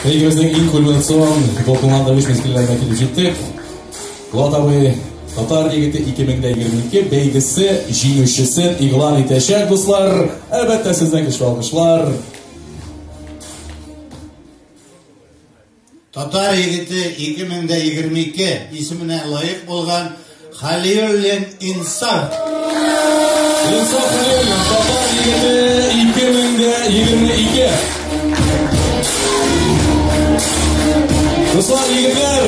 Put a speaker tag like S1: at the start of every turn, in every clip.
S1: Бәйгемезнең иң кульминацион дулкынланды үз мизгелләренә килеп җиттек. Булат абый Татар егете 2022 бәйгесе җиңүчесен игълан итәчәк, дуслар. Әлбәттә, сезгә көчле алкышлар.
S2: Татар егете 2022 исеменә лаек булган Халиуллин Инсар.
S1: Инсар Халиуллин, Татар егете 2022. Руслан егетләр!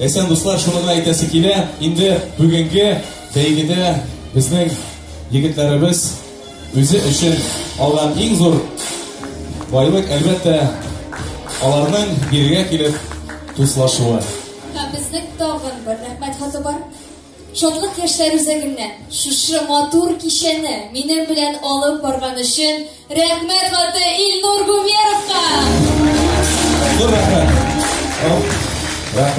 S1: Әсән дуслар, шуны гына әйтәсе килә, инде бүгенге бәйгедә безнең егетләребез үзе өчен алган иң зур байлык, әлбәттә, аларның бирегә килеп дуслашуы. Һәм безнең
S3: тагын бер рәхмәт хаты бар. Шатлык яшьләр үзәгеннән шушы матур кичәне минем белән алып барган өчен рәхмәт хаты Илнур Гумеровка. Зур
S1: рәхмәт.
S3: Рәхмәт.